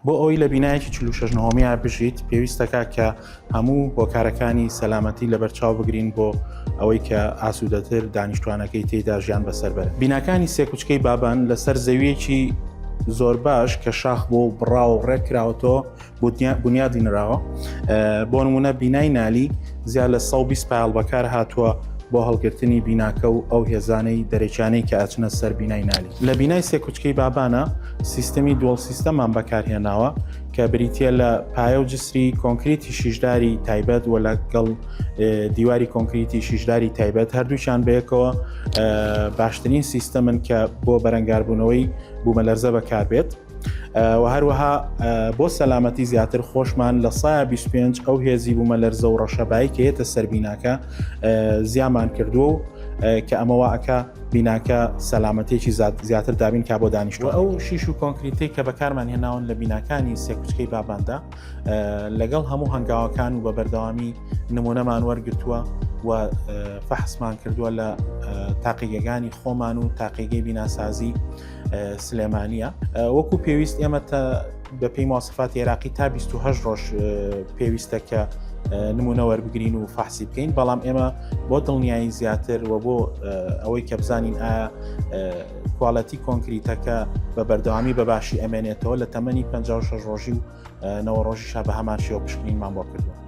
بۆ ئەوەی لە بینایەکی چل و شەش نهۆمییا بژیت پێویستەکە کە هەموو هۆکارەکانی سەلامەتی لەبەرچاو بگرین بۆ ئەوەی کە ئاسوودەتر دانیشتوانەکەی تێیدا ژیان بەسەر بەرن بیناکانی سێکوچکەی بابان لەسەر زەویەکی زۆر باش کە شاخ بۆ و بڕاو و ڕێک کراوەتەوە بنیادی نراوە بۆ نمونە بینای نالی زیاد لە 120 پایڵ بەکار هاتووە بۆ هەڵگرتنی بیناکە و ئەو هێزانەی دەرەکیانەی کە ئەچنە سەر بینای نالی لە بینای سێکوچکەی بابانە سیستمی دووەڵ سیستەمان بەکارهێناوە کە بریتە لە پایە و جسری کۆنکریتی شیشداری تایبەت و لەگەڵ دیواری کۆنکریتی شیشداری تایبەت هەردووچان بەیەکەوە باشترین سیستەمن کە بۆ بەرەنگاربوونەوەی بوومە لەرزە بەکاربێت. و هەروەها بۆ سەلامەتی زیاتر خۆشمان لە سایە 25 ئەو هێزی بوومە لەرزە و ڕەشەبایی کە یەتە سەربیناکە زیامان کردووە و کە ئەمەوە ئەکا بیناکە سەلامەتێکی زیاتر دابین کا بۆ دانیشتوە ئەو شیش و کۆنکریتی کە بەکارمان هێناون لە بیناکانی سێکوچکەی باباندا لەگەڵ هەموو هەنگاوەکان و بە بەردەوامی نمونەمان وەرگتووە و فەحسمان کردووە لە تاقیگەگانی خۆمان و تاقیگەی بیناسازی سلێمانە وەکو پێویست ئێمە تا بە پێی ماسەفات عێراقی تا 28 ڕۆژ پێویستە کە نمونە وەربگرین و فحسی بکەین بەڵام ئێمە بۆ دڵنیایی زیاتر و بۆ ئەوەی کە بزانین ئایا کوالەتی کۆنکریتەکە بە بەردەوامی بەباشی ئەمێنێتەوە لە تەمەنی 56 ڕۆژی و نەوە ڕۆژی شا بە هەمان شێوە پشکنینمان بۆ کردووە